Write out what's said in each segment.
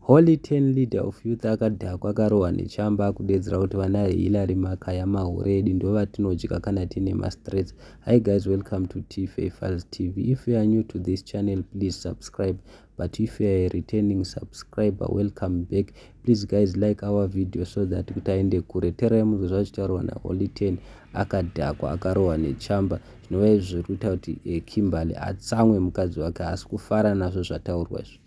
Holy ten leader of youth akadhakwa akarohwa nechamba akudeedzera kuti vana Hillary makaya mahure edu ndovatinodya kana tine mastress. Hi guys welcome to Tife Fuzz TV. If you are new to this channel please subscribe but if you are a returning subscriber welcome back. Please guys like our video so that kuti aende kure. Terai munzwe zvachitaurwa na Holy ten akadhakwa akarohwa nechamba zvinova izvi zviri kuita kuti eh, Kimberly atsamwe mukadzi wake haasi kufara nazvo zvataurwa izvi.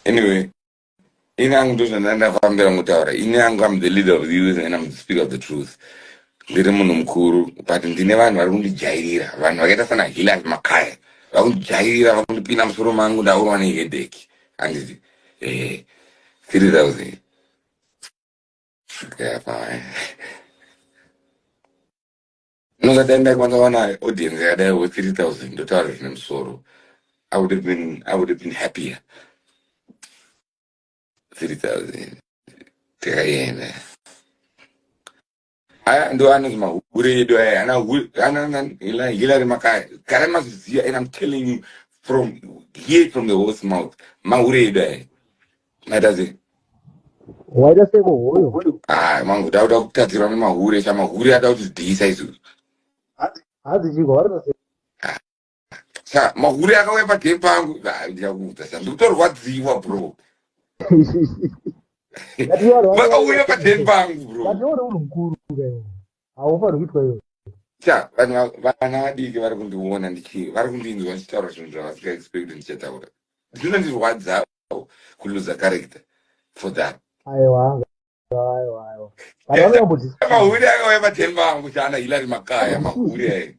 Anyway, in ang to na na fambela mutawara. In ang I'm the leader of the youth and I'm the speaker of the truth. Ndiri munhu mukuru but ndine vanhu vari kundijairira vanhu vakaita sana Hilary Makaya vakundijairira vakundipinda musoro mangu ndaurwa neheadache handiti eh 3000 Yeah, fine. Unonga dai ndaikwanisa wana audience yakadai wo 3000 ndotaura zvine musoro. I would have been I would have been happier. 3000 tikaenda. Aya ndo anonzi mahure edu aya ana hu- ana ana ila- Hillary makaya. Kare mazviziva and I'm telling you from here from the horse mouth mahure edu aya. Naita sei? Waita sei ko hoyo? Ah, mangu dauda kutadzirwa nemahure, cha mahure ada kuti dhisa izvo. Hadzi chiko vari pasi. Ah, cha mahure akauya pa game pangu, ah, ndichakuudza cha ndikutorwadziwa bro. Vakauya pa game pangu bro. Vati uri mukuru. haufaniri kuitwa iyoyo ta vanhu vana vadiki vari kundiona ndichi vari kundinzwa ndichitaura zvinhu zvavasika expect ndichataura zvinondirwadzawo kuluza character for that aiwa mahure akauya paten vangu chana hilari makaya mahure aye